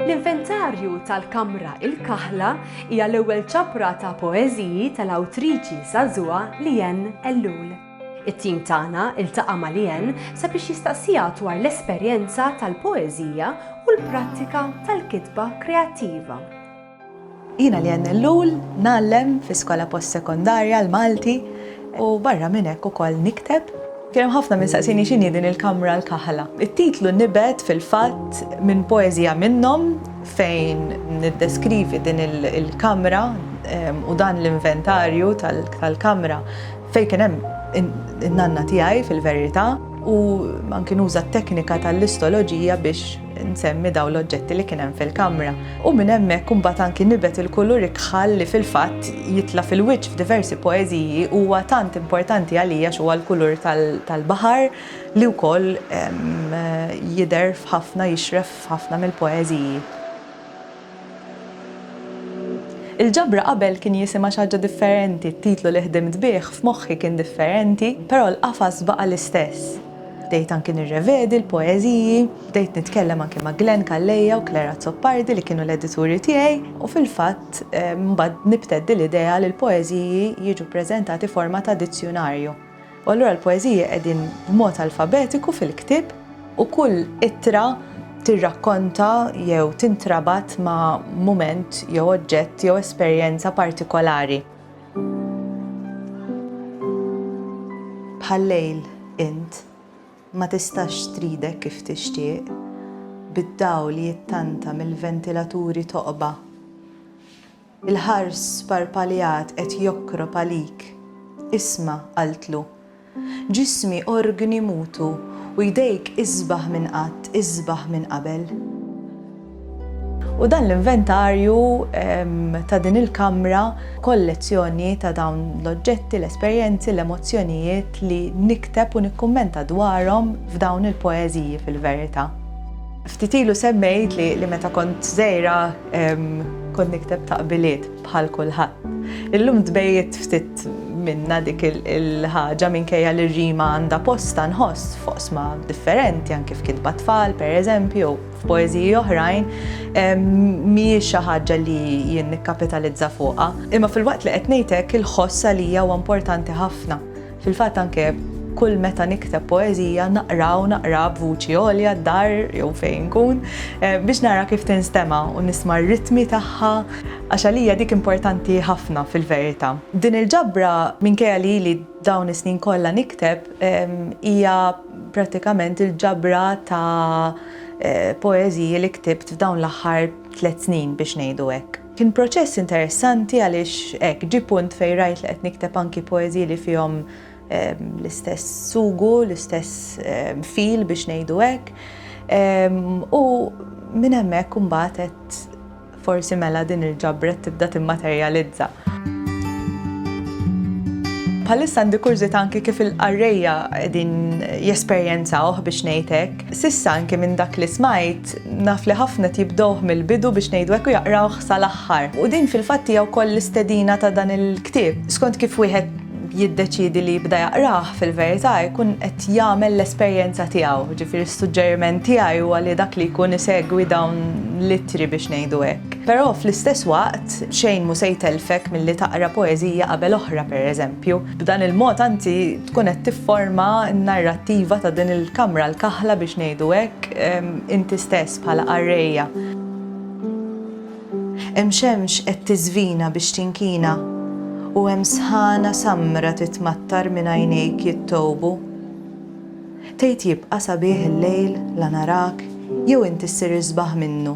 L-inventarju tal-kamra Il-Kaħla hija l-ewwel ċapra ta' poeżiji tal-awtriċi żagħżugħa Leanne Ellul. It-tim tagħna ltaqa' ma' Leanne sabiex jistaqsiha dwar l-esperjenza tal-poeżija u l-prattika tal-kitba kreattiva. Jiena Leanne Ellul, ngħallem fi skola post-sekondarja l-Malti u barra minn hekk ukoll nikteb. Kien hemm ħafna min saqsieni x'inhi din il-kamra l-kaħla. It-titlu nibet fil-fatt minn poeżija minnhom fejn niddeskrivi din il-kamra u dan l-inventarju tal-kamra fejn kien hemm in-nanna tiegħi fil-verità u anki nuża t-teknika tal-istoloġija biex nsemmi daw l-oġġetti li kien hemm fil-kamra. U minn hemmhekk imbagħad anki nibet il-kulur ikħal li fil-fatt jitla fil-wiċċ f'diversi poeżiji huwa tant importanti għalija huwa l-kulur tal-baħar li wkoll jidher f'ħafna jixref f'ħafna mill-poeżiji. Il-ġabra qabel kien jisimha xi ħaġa differenti, t-titlu li ħdimt bih f'moħħi kien differenti, però l-qafas baqa' l-istess. Bdejt anki nirrevedi l-poeżiji, bdejt nitkellem anki ma' Glenn Calleja u Claire Azzopardi li kienu l-edituri tiegħi u fil-fatt mbagħad nibteddi l-idea li l-poeżiji jiġu ppreżentati forma ta' dizzjunarju. U allura l-poeżiji qegħdin b'mod alfabetiku fil-ktieb u kull ittra tirrakkonta jew tintrabat ma' mument jew oġġett jew esperjenza partikolari. Bħal-lejl int ma tistax tridek kif tixtieq, bid-dawl jittanta mill-ventilaturi toqba. Il-ħars sparpaljat qed jokkrop għalik. Isma', qaltlu. Ġismi orgni mutu u jdejk isbaħ minn qatt, isbaħ minn qabel. U dan l-inventarju ta' din il-kamra, kollezzjoni ta' dawn l-oġġetti, l-esperjenzi, l-emozzjonijiet li nikteb u nikkummenta dwarhom f'dawn il-poeżiji fil-verità. Ftit ilu semmejt li meta kont żgħira Kont nikteb taqbiliet bħal kulħadd. Illum tbejjed ftit minna dik il-ħaġa minkejja li r-rima għandha posta nħoss f'oqsma differenti anke f'kitba tfal, per eżempju, f'poeżiji oħrajn, mhijiex xi ħaġa li jien nikkapitalizza fuqha. Imma fil-waqt li qed ngħidlek il-ħoss għalija huwa importanti ħafna. Fil-fatt anke kull meta nikteb poeżija naqra u naqra b'vuċi għolja d-dar jew fejn nkun biex nara kif tinstema' u nisma' r-ritmi tagħha għax għalija dik importanti ħafna fil-verità. Din il-ġabra minkejja li ili dawn is-snin kollha nikteb hija prattikament il-ġabra ta' poeżiji li ktibt f'dawn l-aħħar tliet snin biex ngħidu hekk. Kien proċess interessanti għaliex hekk ġie punt fejn rajt li qed nikteb anki poeżiji li fihom l-istess sugu, l-istess feel biex ngħidu hekk. U minn hemmhekk imbagħad għedt forsi mela din il-ġabret tibda timmaterjalizza. Bħalissa għandi kurżità anki kif il-qarrejja qegħdin jesperjenzawh biex ngħid hekk. S'issa anki minn dak li smajt Naf li ħafna qed jibdewh mill-bidu biex ngħidu hekk u jaqrawh sal-aħħar. U din fil-fatt hija wkoll l-istedina ta' dan il-ktieb. Skont kif wieħed jiddeċiedi li jibda jaqrah, fil-verità jkun qed jagħmel l-esperjenza tiegħu. Jiġifieri s-suġġeriment tiegħi huwa li dak li jkun isegwi dawn l-ittri biex ngħidu hekk. Però fl-istess waqt xejn mhu se jtellfek milli taqra poeżija qabel oħra, pereżempju. B'dan il-mod anzi tkun qed tifforma n-narrattiva ta' din il-kamra l-kaħla biex ngħidu hekk, inti stess bħala qarrejja. Hemm xemx qed tiżvina biex tinkina u hemm sħana samra titmattar minn għajnejk jittowbu. Tgħid jibqa' sabiħ il-lejl la narak jew inti ssir isbaħ minnu.